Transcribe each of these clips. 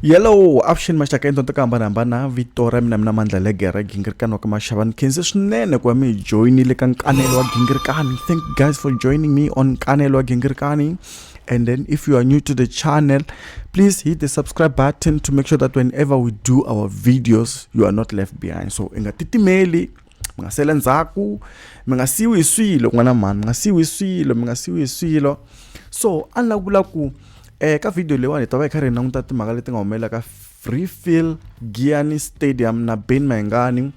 yellow avuxeni maxaka endla to ka hambanahambana vito ra mina mina mandla legera gingirikani wa ka maxavani khense swinene ku va mi hi joyinile ka nkanelo wa gingirikani thank you guys for joining me on nkanelo wa gingirikani and then if you are new to the channel please hit the subscribe button to make sure that whenever we do our videos you are not left behind so i nga titimeli mi nga sele ndzhaku mi nga siyiwi hi swilo n'wana mhani mi nga siyiwi hi swilo mi nga siyiwi hi swilo so a ni la ku vula ku eka eh, video leyiwani hi ta va hi kha ri hi languta timhaka leti nga humelela ka freefill giani stadium na ben mayingani um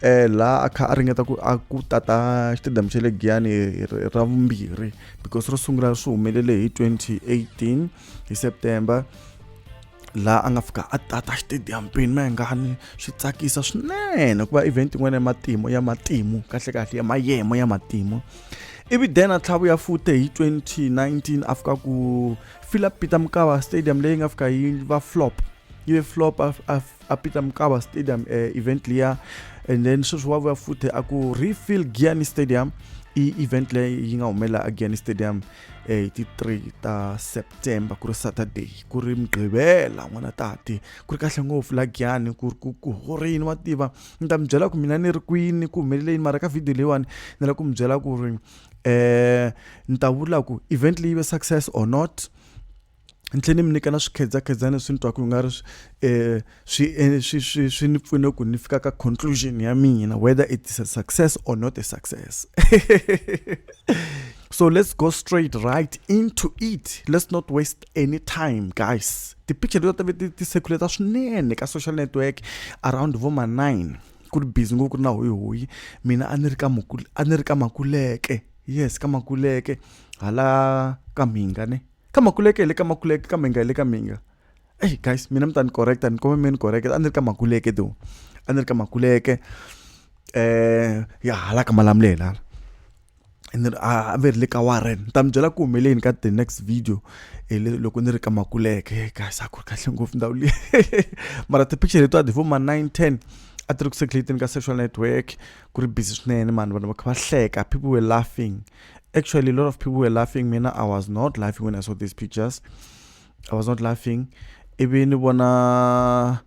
eh, laha a kha a ringeta ku a ku tata xitediyamu xa le giani ra vumbirhi because ro sungula swi humelele hi 2018 hi September laha a nga fika a tata stadium pin ma nga ni swi tsakisa swinene ku va event yin'wana ya matimu ya matimu kahle kahle ya mayemo ya matimu ivi then a tlhavuya fute hi 2019 a fika ku philip peter mukava stadium leyi nga fika yi va flop yi ve flop a peter mukava stadium eh, event liya and then sweswi wa vuya fute a ku refill giani stadium i event leyi yi nga humelela a giani stadium eh, hi ti 3 ta september ku ri saturday ku ri mugqivela n'wana tati ku ri kahle ngopfu la giyani ku ri ku ku horini wa tiva ni ta mi byela ku mina ni ri kwini ku humelele yini mara ka video leyiwani ni la ku mi byela ku ri um ni ta vula ku event leyi ve success or not ni tlhela ni mi nyika na swikhedzakhedzana leswi ni twaka ku nga ri um swi e, swi swi swi ni pfune ku ni fika ka conclusion ya mina whether it is a success or not a success so let's go straight right into it let's not waste any time guys tipicture leti ta ve ti ti circulata swinene ka social network around vo ma nine ku ri busy ngopfu ku ri na hoyihoyi mina a ni ri ka a ni ri ka makuleke yes ka makuleke hala ka mhingane ka makuleke le ka makuleke ka minga le ka minga hey guys mina mi ta ni correct ni kome mi ni correct a ni ri ka makuleke do a ni ri ka makuleke eh ya hala ka malamuleni hala and then a ve ri le ka warren ni ta mi byela ku humeleni ka the next video e loko ni ri ka makuleke guys a ku ri kahle ngopfu ndhawu leyi mara ti-picture letiwa ti vo ma nine ten a ti ri ku circulateni ka social network ku ri busy swinene mani vanhu va kha va hleka people were laughing Actually, a lot of people were laughing. Mina, I was not laughing when I saw these pictures. I was not laughing. Even ni vona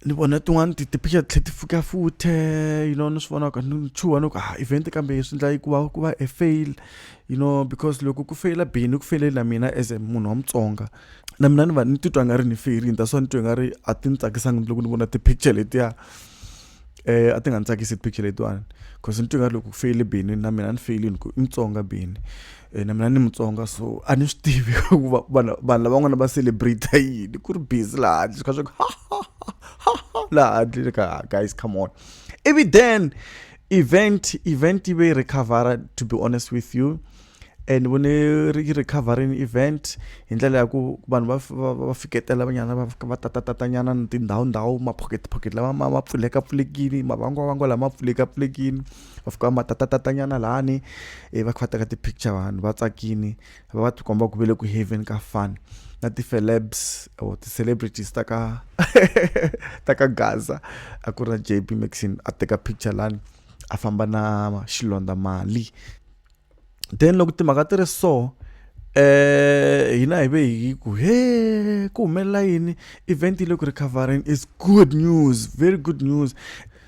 ni vona tin'wana tipicture tlhe ti fika futhe you know ni swi vona ka ni chuha ni ku ah event kambe swi endla yi ku va ku va a fail you know because loko ku feyila bini ku feyile na mina as a munhu wa mutsonga na mina ni va ni titwa nga ri ni feyirini that's why ni twe nga ri a ti ni tsakisanga loko ni vona ti-picture letiya eh a ti nga ni tsakisi picture letiwani cause ni twi nga loko ku feyile bini na mina ni feyilini ku i mutsonga bini eh, na mina ni mutsonga so a ni swi tivi ku vanhu lavan'wana va celebrate yini ku ri busy laha handle swi kha swa ku laha handle ka guys come on ivi then event event yi ve yi recover to be honest with you e ni vone yi ri covering event hi ndlela ya ku vanhu va va va fiketela vanyana va va tatatatanyana ni tindhawu ndhawu ma-pocket pocket lama ma ma pfulekapfulekile mavangwavangwa lama pfulekapfulekile va fika va ma tatatatanyana lani ivi va kha va teka ti-picture vanhu va tsakile va va ti komba ku ve le ku heaven ka fun na ti-celebs or ti-celebrities ta ka ta ka gaza a ku ri na j b maxine a teka picture lani a famba na xilondza mali then loko timhaka ti ri so eh hina hi ve hi ku he ku humelela yini event yi le ku recovereni is good news very good news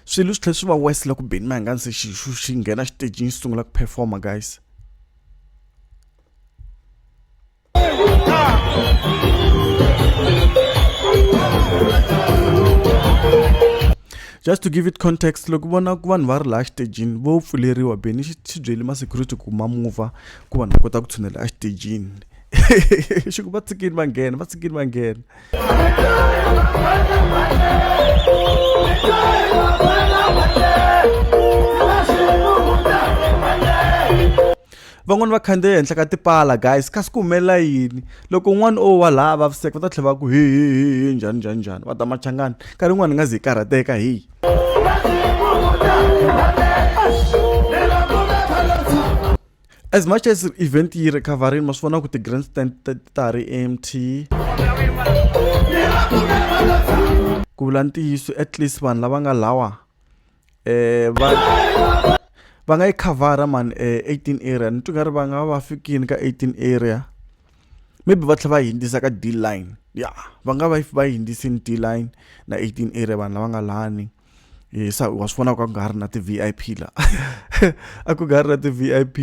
swilo swi tlhela swi va west loko beni ma nga se xi xi nghena xitejini xi sungula ku performa guys just to give it context loko vona ku vanhu va ri laha xitejini vo pfuleriwa beni xi xi byeli ma-security ku ma muva ku vanhu va kota ku tshunela exitejini xi ku va tshikini va nghena va tshikini va nghena van'wani va khandziya ehenhla ka tipala guys kasi ku humelela yini loko un'wana o wa laha vaviseka va ta tlhela va ku hihihihi njhani njhani njhani va ta machangani nkarhi un'wana ni nga zi hi karhateka hi as much as event yi ri covering ma swi vona ku ti-grand stand ta ha ri empty ku vula ntiyiso at least vanhu lava nga lawa va va nga yi khavhara mhani eighteen area ni twa nga ri va nga va fikile ka eighteen area maybe va tlhela va hundzisa ka D line ya va nga va va hundzisile D line na eighteen area vanhu lava nga lani hi wa swi vona ku a ku nga ha ri na ti-V_I_P laha a ku nga ha ri na ti-V_I_P.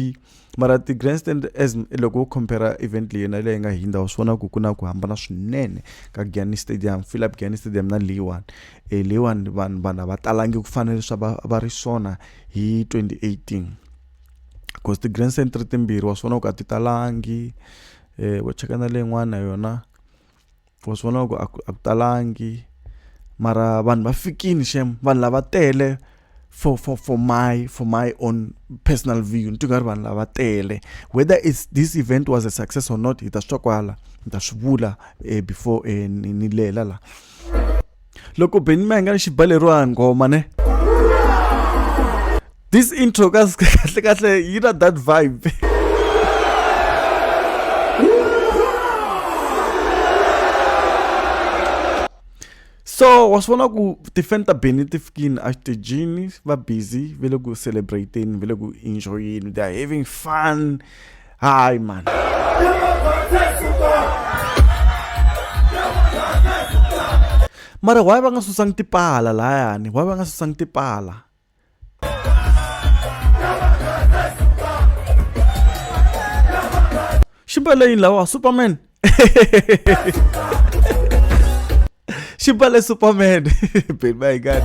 mara ti-grandstand as loko wo compare event leyi na leyi nga hindza wa swi vona ku ku na ku hambana swinene ka giani stadium philip giani stadium na leyiwani e leyiwani vanhu vanhu a va talangi ku fana leswi va va ri swona hi 2018 because ti-grand stand ri timbirhi wa swi vona ku a ti talangi um wo cheka na leyin'wana yona wa swi vona ku a ku a ku talangi mara vanhu va fikini xem vanhu lava tele for for for my for my own personal view ni tingari vanhu lava tele whether is this event was a success or not hi ta swi twa kwala ni ta swi vula eh, before eh, ni lela la loko beni mi nga ni xibaleriwa nghoma ne this intro ka kahle kahle yi na that vibe so wa swi vona ku tifan ta beni ti fikile exitejini va busy va le ku celebrateni va le ku enjoyeni they are having fun Ai, mano. Mara why va nga susang tipala la yani? Why va nga susang tipala? Ximba leyi lawa Superman. Shibale Superman. Been my God.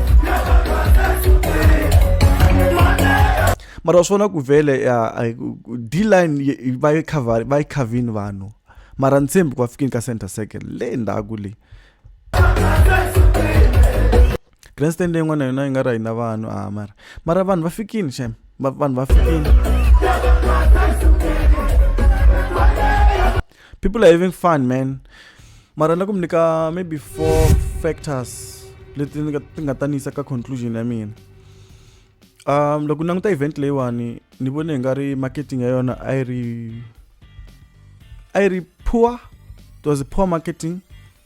mara wa swi vona ku vhele ya a- ku- d-line yi- yi- va yi cover- va yi khavini vanhu mara ntshembi ku va fikini ka center circle le ndzhaku leyi grandstand yin'wana na yona yi nga ri hina vanhu a ah, mara mara vanhu va fikini xem vanhu va fikini people are having fun man mara na ku mi nyika maybe four factors leti ni nga ti nga ta ni yisa ka conclusion ya mina um loko ni languta event leyiwani ni vone hi nga ri marketing ya yona a yi ri a yi ri poor it was poor marketing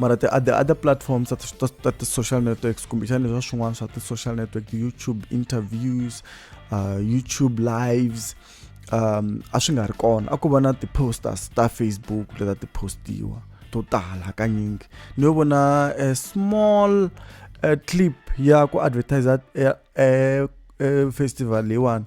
mara the other, other platforms that, that, that the social networks kumbexani leswa swin'wana swa ti-social network ti-youtube interviews uh, youtube lives um a swi nga ri kona a ku va na ti-posters ta facebook leta ti postiwa to tala hakanyingi ni yo vona a small uh, clip ya ku advertisa uh, uh, festival leyiwani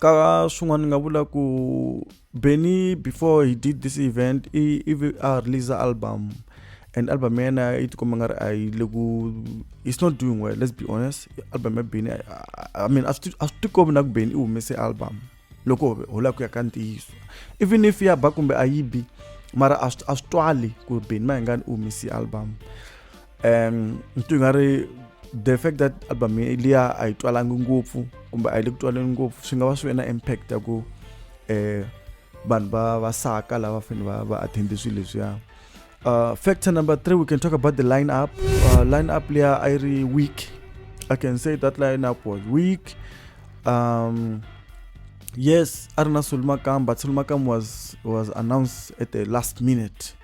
ka swin'wana ni nga vula ku benny before he did this event i ivi a release album and album ya yena yi tikomba nga ri a yi le ku it's not doing well let's be honest album ya benny i mean a swi tikombi na ku benny i humese album loko ho lava ku ya ka ntiyiso even if ya ba kumbe a yi bi mara a swi twali ku benny mayengani u humese album um ntu nga ri the fact that album liya a yi twalangi ngopfu kumbe a yi le ku twaleni ngopfu swi nga va swi ve na impact ya ku um vanhu va va saka lava fanele va va attende swilo leswiya uh, factor number three we can talk about the line up uh, line up liya a yi ri week i can say that line up was week um, yes a ri na sulumakam but sulumakam was was announced at the last minute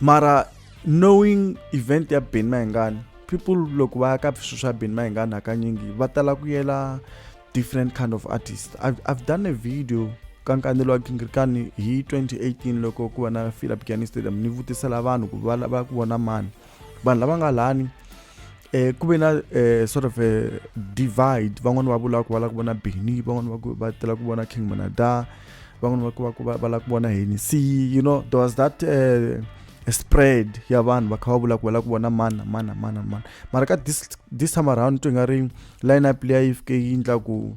mara knowing event ya ben mahingani people loko va ya ka swilo swa ben mahingani hakanyingi va tala ku yela different kind of artist i've, I've done a video ka nkanelo wa gingirikani hi 2018 loko ku va na philip gani stadium ni vutisela vanhu ku va lava ku vona mani vanhu lava nga lani eh, ku ve na eh, sort of a divide van'wani va vula ku va lava ku vona beni van'wani va ku va tela ku vona king manada van'wani va ku va ku va va lava ku vona henisi you know there was that eh, a spread ya vanhu va kha va vula ku va lava ku vona mani na mani na mani na mani mara ka this, this time around twi nga ri line up leya yi fike yi ndla ku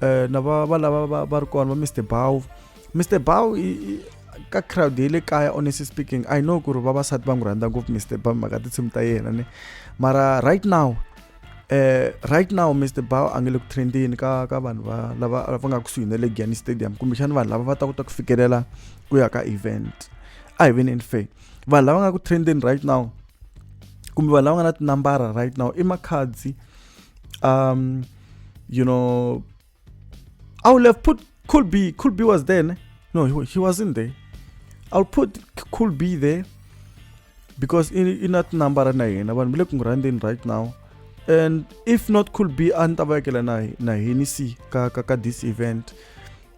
eh, na va va lava va va ri kona va mr bow mr bow ka crowd ya le kaya honestly speaking i know ku ri vavasati va n'wi rhandza ngopfu mr bow mhaka tinsimu ta yena ni mara right now eh right now Mr Bao a nge le ku trendeni ka ka vanhu va lava va nga kusuhi na le Gianni Stadium kumbe xana vanhu lava va ta kota ku fikelela ku ya ka event a hi veneni fair vanhu lava nga ku trendeni right now kumbe vanhu lava nga na tinambara right now i makhadzi um you know, I would have put could be could be was there. No, he, he wasn't there. I'll put could be there because in, in that number na yena vanhu bile kungurandeni right now and if not could be a ni ta vekela na na hini si ka ka ka this event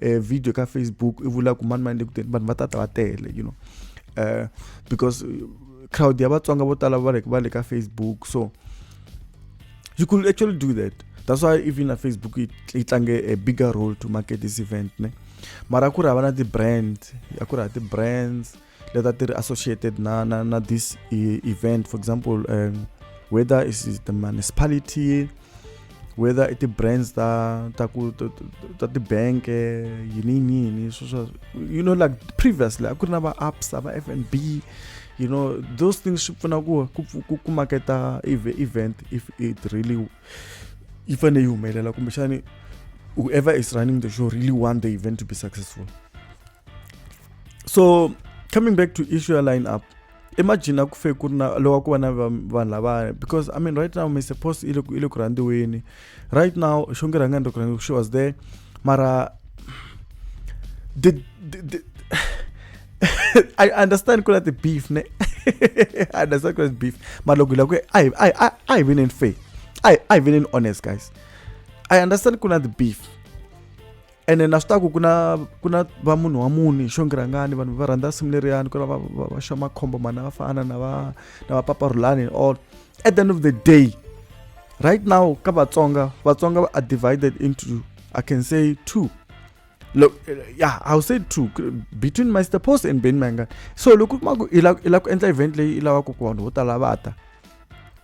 eh, video ka facebook i vula ku mani mani le kuteni vanhu va tata va tele you know uh, because eh, crowd ya vatsonga vo tala va le ka facebook so you could actually do that that's why even na facebook yi tlange a bigger role to market this event ne mara ku ri hava na ti-brand a ku ri ha ti-brands leta ti ri associated na, na, na this e, event for example um, whether is the municipality whether i ti-brands ta ta ku ta ti-bank yini yini sweswo you know like previously a ku ri na va-apps a va-f and b you know those things swi pfuna ku ku ku maketa event if it really yi fanele yi humelela kumbexani whoever is running the show really want the event to be successful so coming back to issue ya line up imagine aku fe ku ri na loko ku va na vanhu lavaya because i mean right now mr post i le ku rhandziweni right now xo nge rhanga ndokona she was there mara the, the, the I understand ku na the beef ne I understand ku na the beef mara loko hi lava ku a hi a hi a hi veneni fair a hi a hi veneni honest guys I understand ku na the beef ene na swi ta ku ku na ku na va munhu wa muni hi xongirangani vanhu va rhandza simu leriyani ku na va va, va xa makhombo mani va fana na va na va papa rulani and all at the end of the day right now ka vatsonga vatsonga are divided into i can say two Look, yeah, I'll say two between Master Post and Ben Mangan. So loko kuma ku i la ku endla event leyi i lavaka ku vanhu vo tala va ta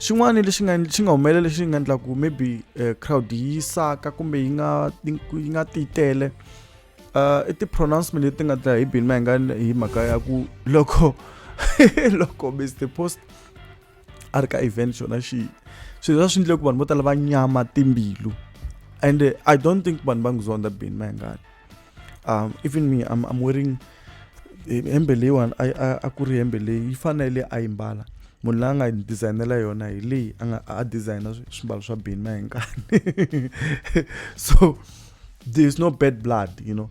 xin'wana lexi nga xi nga humelela lexi nga endla ku maybe uh, crowd yi saka kumbe yi nga yi nga ti tele uh, i ti-pronouncement leti nga ta hi bini ma hi nga hi mhaka ya ku loko loko mr post a ri ka event xona xi swilo swa swi endle ku vanhu vo tala va nyama timbilu and i don't think vanhu va nguzonda bini ma hi ngani um even me i'm, I'm wearing eh, hembe leyiwani a ku ri hembe leyi yi fanele a yi mbala munhu la nga designela yona hi leyi a nga a designa swimbalo swa bini na hi nkani so there is no bad blood you know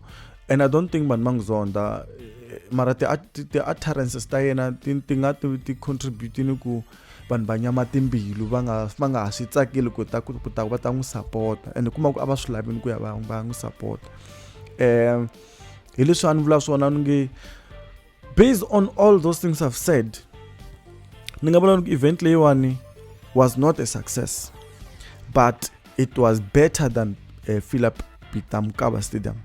and i don't think vanhu va n'wi zonda eh, mara ti-utterances ta yena ti nga ti-contributini ku ti vanhu va nyama timbilu va nga va nga ha swi tsakeli ku ta ku ta va ta n'wi sapota and kuma ku a va swi lavini ku ya va va n'wi sapota um hi leswi a ni vula swona ni nge based on all those things i've said ni nga vula ni ku event leyiwani was not a success but it was better than uh, philip pitamkaba stadium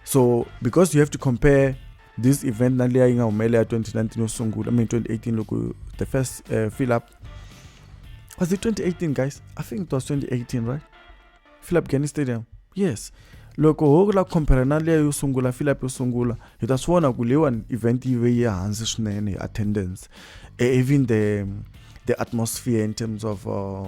so because you have to compare this event na leyi yi nga humelela ya 2019 yo sungula mean 2018 loko the first uh, fill up was it 2018 guys i think it was 2018 right fill up gani stadium yes loko ho la compare na leya yo sungula fill up yo sungula hi ta swi vona ku leyiwani event yi ve yi hansi swinene hi attendance e, even the the atmosphere in terms of uh,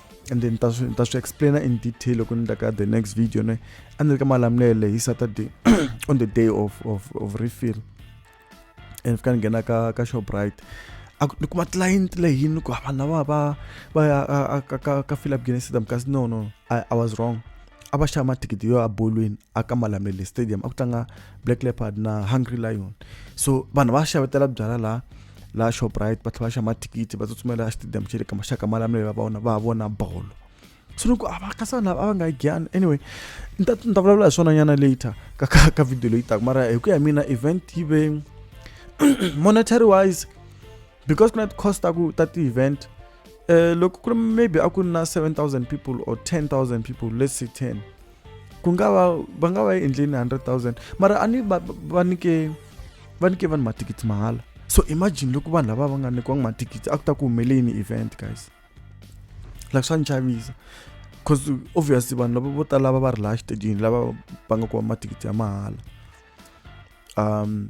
and then ta swi ta swi explaina in detail loko ni ta ka the next video ne a ni ri ka malamulele hi saturday on the day of of of refill and fika ni nghena ka ka shoprite ni kuma client leyini ni ku ah, vanhu lava va va ya ka ka ka philip guinness stadium kasi no no I, i was wrong a va xava mathikithi yo ya bolweni a ka malamulele stadium a ku tlanga black leopard na hungry lion so vanhu va xavetela byala laha la shoprite ba tlhe ba shama tikiti ba tsutsumela ya stadium tšele ka mashaka malamele ba bona ba bona bolo tshunoko a ba ka sana ba nga igyan anyway nta nta vulavula hi swona nyana later ka ka ka video leyi taka mara hi ku ya mina event yi ve monetary wise because kuna cost ta ku ta ti event eh loko ku ri maybe a ku na 7000 people or 10000 people let's say 10 ku nga va va nga va yi endleni 100000 mara a ni va va nike va nike vanhu mathikithi mahala so imagine loko vanhu lava va nga nyikiwanga mathikithi a ku ta ku humeleni event guys like swa ni chavisa because obviously vanhu lava vo tala lava va ri laha xitedini lava va nga kuma mathikithi ya mahala um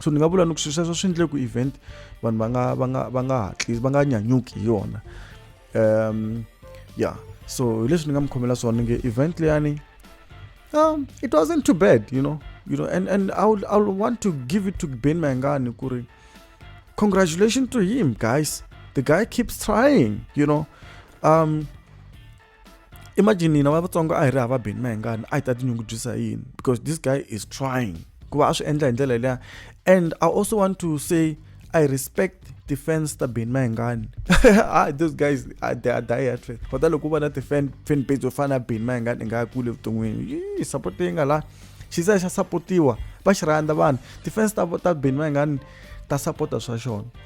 so ni nga vula ni ku swilo sweswo swi endle ku event vanhu va nga va nga va nga hatlisi va nga nyanyuki hi yona um yeah so hileswi ni nga mi khomela swona nge event leyani um it wasn't too bad you know you know and and i would, I would want to give it to ben mangani ku ri congratulations to him guys the guy keeps trying you know um imagine hina va vatsongo a hi ri hava beni mahingani a hi ta tinyungubyisa yini because this guy is trying ku va a swi endla hi ndlela leya and i also want to say i respect defense ta beni mahingani ah, those guys ah, they are die at faith kota loko u va na tifan fan page yo fana na beni mahingani i nga ya kule evuton'wini yi support leyi nga laha xisa xa supportiwa va xi rhandza vanhu defense ta ta beni mahingani ta support-a swa xona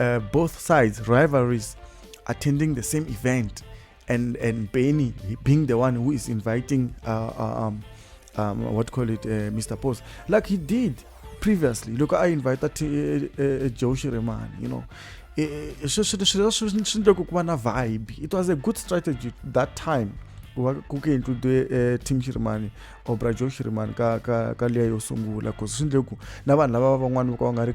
uh, both sides rivalries attending the same event and and Benny being the one who is inviting uh, uh um, um, what call it uh, Mr. Post like he did previously look I invited uh, uh, Joe Shireman you know eh, eh, vibe it was a good strategy that time kukaitudwe eh, tim shirimani or brajo shirimani ka, ka, ka liya yo sungula bcause swi ndle ku na vanhu lava van'wani va ka va nga ri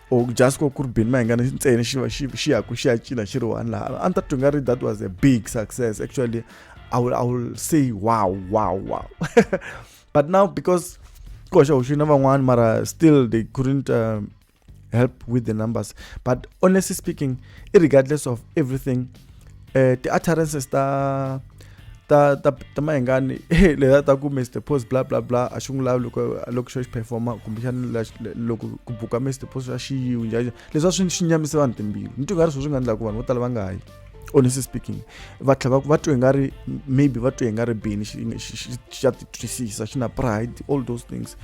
or just ko ku ri bini mahingana ntsena xi va xi xi yaku xi ya cina xi ri one laha a ni ta twi nga ri that was a big success actually i will, I will say wow wow wow but now because koxa u xina van'wana mara still they couldn't um, help with the numbers but honestly speaking regardless of everything eh ti utterances ta ta ta ta mahingani leya ta ku Mr Post bla bla bla a xi n'wi lavi loko loko xo xi performa kumbe xana loko ku buka Mr Post a xi yiwi njhani leswi a swi swi nyamise vanhu timbilu ni twi nga ri sweswi nga endlaka vanhu vo tala va nga yi honestly speaking va tlhela va twe nga ri maybe va twe nga ri bini xa ti twisisa xi na pride all those things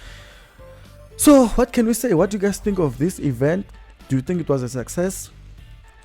so what can we say what do you guys think of this event do you think it was a success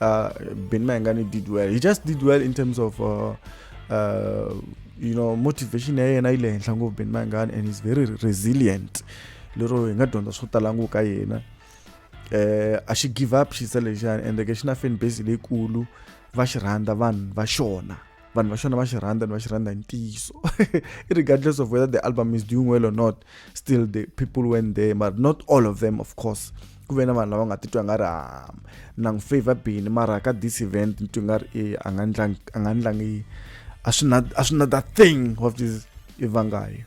uh, Ben Mayengani did well. He just did well in terms of, uh, uh, you know, motivation and I learned of Ben Mayengani and he's very resilient. Lero hi nga dyondza swo tala ngopfu ka yena. Eh a xi give up xisa lexiyani ende ke xi na fan base leyikulu va xi rhandza vanhu va xona vanhu va xona va xi rhandza ni va xi rhandza hi ntiyiso regardless of whether the album is doing well or not still the people went there but not all of them of course ku ve na vanhu lava nga titwa nga ri ah, na n'wi favor bini mara ka this event ni twi nga ri e a nga ndlangi a nga ndlangi a swi na a swi na that thing of this evangayo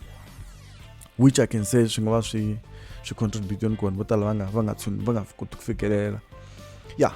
which i can say swi nga va swi swi contribute ni kona vo tala va nga va nga tshuni va nga koti ku fikelela ya yeah.